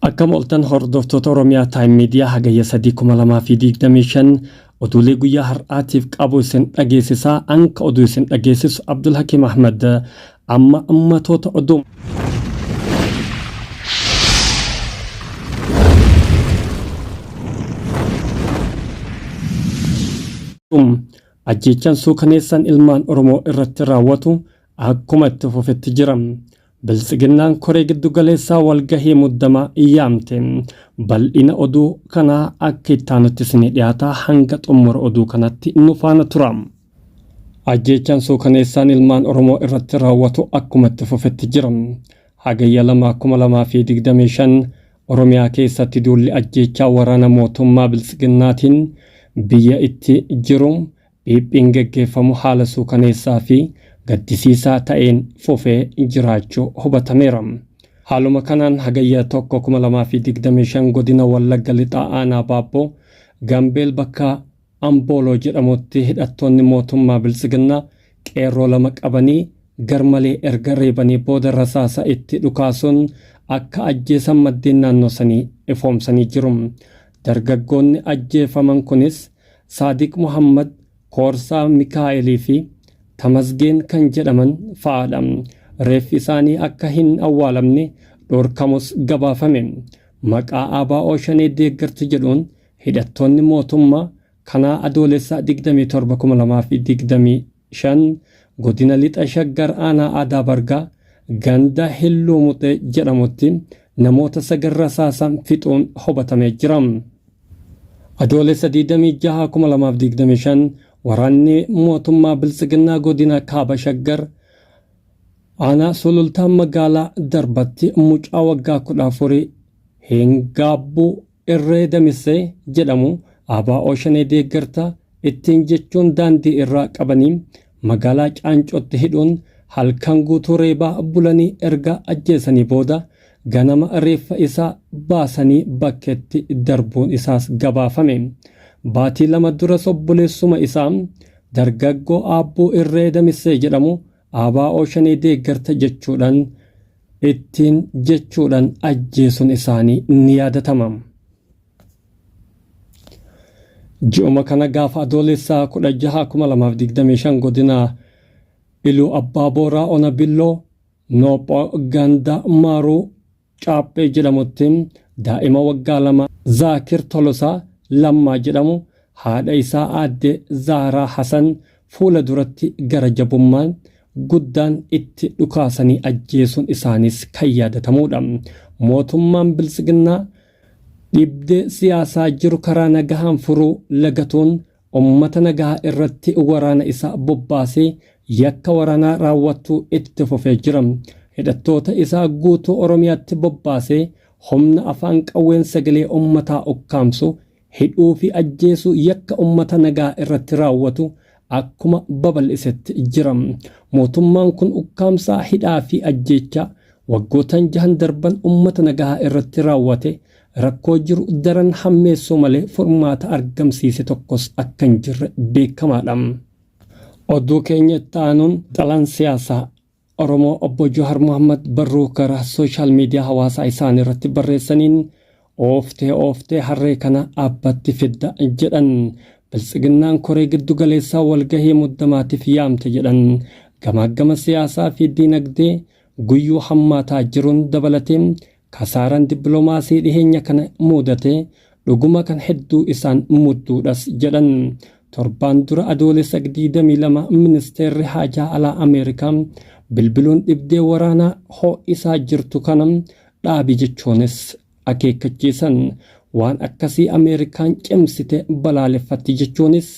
Akkam oltan hordoftoota Oromiyaa Time Media hagayya 3,2025 oduulee guyyaa har'aatiif qabu isin dhageessisaa anka oduu isin dhageessisu Abdul Hakim Ahmad amma ummatoota oduu. Ajjeechaan suukaneessaan ilmaan Oromoo irratti raawwatu akkuma itti fufetti jira. Biltsiginnaan koree giddugaleessaa walgahii muddamaa yaamte. Bal'ina oduu kanaa akka itti aanutti isinii dhiyaata hanga xummura oduu kanatti nu faana tura. Ajjeechaan suukaneessaan ilmaan Oromoo irratti raawwatu akkuma itti fufetti jira. Hagayya 2,2025 Oromiyaa keessatti duulli ajjeechaa waraana mootummaa Biltsiginnaatiin biyya itti jiru Phiphiin geggeeffamu haala suukaneessaa fi gaddisiisaa ta'een fufee jiraachuu hubatameera. Haaluma kanaan Hagayya 1, 2025 godina Wallagga Lixaa aanaa Baabboo Gambeel bakka Ambooloo jedhamutti hidhattoonni mootummaa Biltsiginnaa qeerroo lama qabanii garmalee erga reebanii booda rasaasa itti dhukaasuun akka ajjeesan maddeen naannoo sanii ifoomsanii jiru. Dargaggoonni ajjeefaman kunis Saadiq Muhammad, Koorsaa Mikaa'elii fi Tamasgeen kan jedhaman fa'aadha. Reeffi isaanii akka hin awwaalamne dhorkamus gabaafame. Maqaa ABO Shanee deeggartu jedhuun hidhattoonni mootummaa kanaa Adoolessa 27,2020 5, Godina Lixa Shaggar Aanaa Aadaa Bargaa ganda Hilluu Muxee jedhamutti namoota sagal rasaasaan fixuun hubatamee jira. Adoolessa 26,2025 waraanni mootummaa Biltsiginnaa godina Kaaba Shaggar aanaa Sulultaa magaalaa Darbatti mucaa waggaa 14 hin gaabbuu Irree Damissee jedhamu ABO Shanee deeggarta ittiin jechuun daandii irraa qabanii magaalaa Caancootti hidhuun halkan guutuu reebaa bulanii erga ajjeesanii booda ganama reeffa isaa baasanii bakkeetti darbuun isaas gabaafame. Baatii lama duras obboleessuma isaa dargaggoo Aabbuu Irree Damissee jedhamu ABO shanee deeggarta jechuudhan ittiin jechuudhan ajjeesun isaanii ni yaadatama. Ji'uma kana gaafa Adoolessaa 16/2025 godina Iluu Abbaa Booraa Ona Billoo Noopho Ganda Maaruu Caaphee jedhamutti daa'ima waggaa lama Zaakir Tolosaa Lammaa jedhamu haadha isaa aadde Zahraa Hasan fuula duratti gara jabummaan guddaan itti dhukaasanii ajjeesuun isaaniis kan yaadatamuudha. Mootummaan Biltsiginnaa dhibdee siyaasaa jiru karaa nagahaan furuu lagatuun ummata nagaa irratti waraana isaa bobbaasee yakka waraanaa raawwachuu itti fufee jira. Hidhattoota isaa guutuu Oromiyaatti bobbaasee humna afaan qawween sagalee ummataa ukkaamsu, hidhuu fi ajjeesuu yakka ummata nagaa irratti raawwatu akkuma babal'isetti jira. Mootummaan kun ukkaamsaa, hidhaa fi ajjeechaa waggootan jahan darban ummata nagaa irratti raawwate Rakkoo jiru daran hammeessuu malee furmaata argamsiise tokkos akka hin jirre beekamaadha. Oduu keenya itti aanuun xalaan siyaasaa Oromoo obbo Jawaar Mohammad barruu karaa sooshaal miidiyaa hawaasaa isaanii irratti barreessaniin ooftee ooftee harree kana abbatti fidda jedhan biltsiginnaan koree giddu galeessaa walgahii muddamaatiif yaamte jedhan gamaaggama siyaasaa fi diinagdee guyyuu hammaataa jiruun dabalatee Kasaaraan dippilomaasii dhiheenya kana muudate dhuguma kan hedduu isaan mudduudhas jedhan. Torbaan dura Adoolessa 22 ministeerri haajaa alaa Ameerikaa bilbiluun dhibdee waraanaa ho'isaa jirtu kana dhaabi jechuunis akeekkachiisan. Waan akkasii Ameerikaan cimsite balaaleffatti jechuunis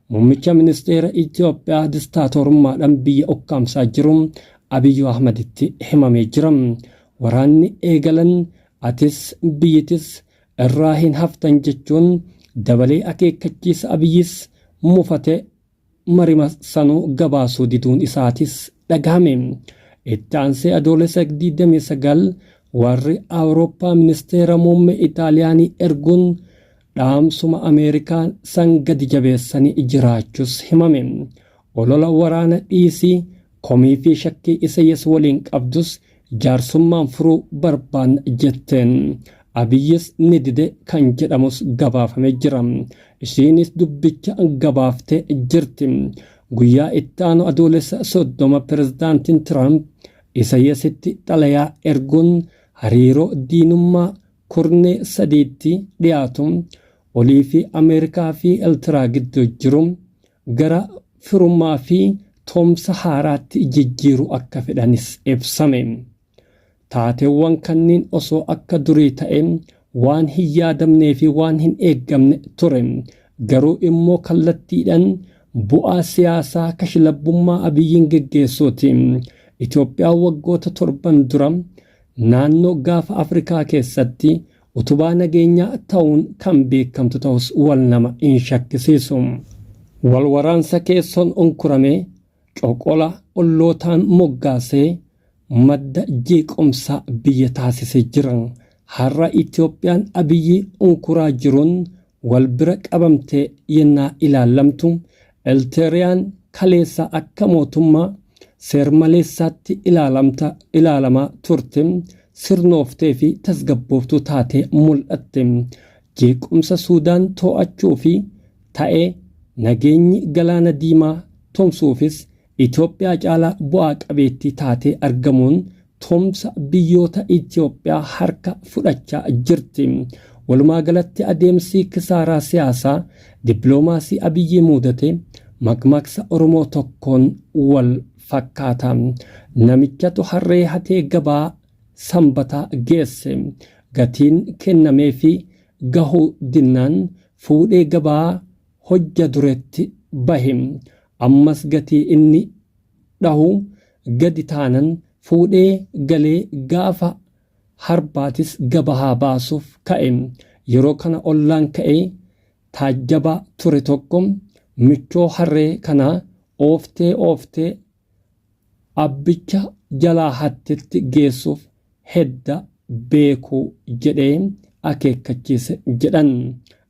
muummicha ministeera Itoophiyaa distaatoorummaadhaan biyya ukkaamsaa jiru Abiy Ahmaditti himamee jira. waraanni eegalan atis biyyitis irraa hin haftan jechuun dabalee akeekkachiisa Abiyyis mufate marima sanuu gabaasuu diduun isaatis dhagahame. Itti aansee Adoolessa 29 warri Awurooppaa ministeera muummee Itaaliyaanii erguun dhaamsuma Ameerikaan san gadi jabeessanii jiraachus himame. Olola waraana dhiisii komii fi shakkii Isayyas waliin qabdus jaarsummaan furuu barbaanna jetteen. Abiyyis ni dide kan jedhamus gabaafame jira. Ishiinis dubbicha gabaaftee jirti. Guyyaa itti aanu Adoolessa 30 Pirezidaantiin Tiraamp Isayyasitti xalayaa erguun hariiroo diinummaa kurnee sadiitti dhiyaatu oliifi Ameerikaa fi Eltiraa gidduu jiru gara firummaa fi toomsa haaraatti jijjiiru akka fedhanis ibsame. Taateewwan kanniin osoo akka durii ta'e waan hin yaadamnee fi waan hin eeggamne ture. Garuu immoo kallattiidhan bu'aa siyaasaa kashlabbummaa Abiyyiin geggeessuuti. Itoophiyaa waggoota torban dura Naannoo Gaafa Afrikaa keessatti utubaa nageenyaa ta'uun kan beekamtu ta'us wal nama hin shakkisiisu. Wal waraansa keessoon unkuramee, coqola ollootaan moggaasee madda jeequmsaa biyya taasisee jira. Har'a Itoophiyaan Abiyyi unkuraa jiruun Wal bira qabamtee yennaa ilaallamtu, Elteeriyaan kaleessa akka mootummaa seer-maleessaatti ilaalamta, ilaalamaa turte, sirnooftee fi tasgabbooftuu taatee mul'atte. Jeequmsa Suudaan too'achuu fi ta'ee nageenyi Galaana Diimaa tumsuufis Itoophiyaa caalaa bu'aa qabeettii taatee argamuun tumsa biyyoota Itoophiyaa harka fudhachaa jirti. Walumaa galatti adeemsi kisaaraa siyaasaa dippiloomaasii Abiyyii muudate makmaksa Oromoo tokkoon wal fakkaata. Namichatu harree hatee gabaa Sambataa geesse. Gatiin kennameefii gahuu dinnaan fuudhee gabaa hojja duretti bahe ammas gatii inni dhahu gadi taanan fuudhee galee gaafa harbaatis gabahaa baasuuf ka'e yeroo kana ollaan ka'ee taajjabaa ture tokko michoo harree kanaa ooftee ooftee Abbicha jalaa hattetti geessuuf hedda beeku jedhee akeekkachiise jedhan.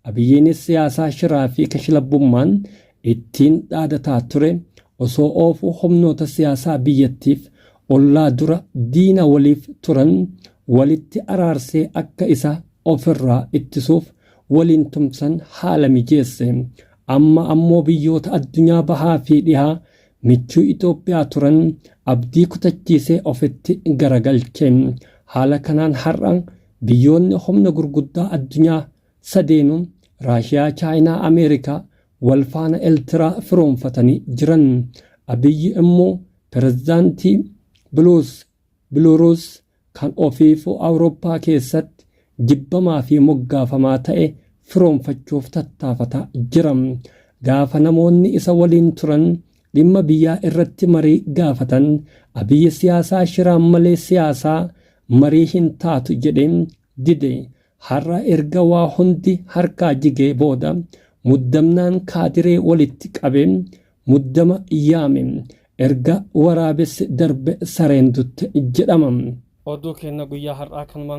Abiyyiinis siyaasaa shiraa fi kashlabbummaan ittiin dhaadataa ture osoo oofuu humnoota siyaasaa biyyattiif ollaa dura diina waliif turan walitti araarsee akka isa ofirraa ittisuuf waliin tumsan haala mijeesse. Amma ammoo biyyoota addunyaa bahaa fi dhihaa Michuu Itoophiyaa turan abdii kutachiisee ofitti garagalche. Haala kanaan har'a biyyoonni humna gurguddaa addunyaa sadeenuu, Raashiyaa, Chaayinaa, Ameerikaa, wal faana Eltiraa firoomfatanii jiran. Abiyyi immoo pirezidaantii Biluus, Biluuruus, kan ofiifuu Awurooppaa keessatti jibbamaa fi moggaafamaa ta'e firoomfachuuf tattaafataa jira. Gaafa namoonni isa waliin turan dhimma biyyaa irratti marii gaafatan Abiyyi siyaasaa shiraan malee siyaasaa marii hin taatu jedhee dide har'a erga waa hundi harkaa jigee booda muddamnaan kaadiree walitti qabe muddama yaame erga waraabessi darbe sareen dutte jedhama. Oduu keenya guyyaa har'aa kanumaan.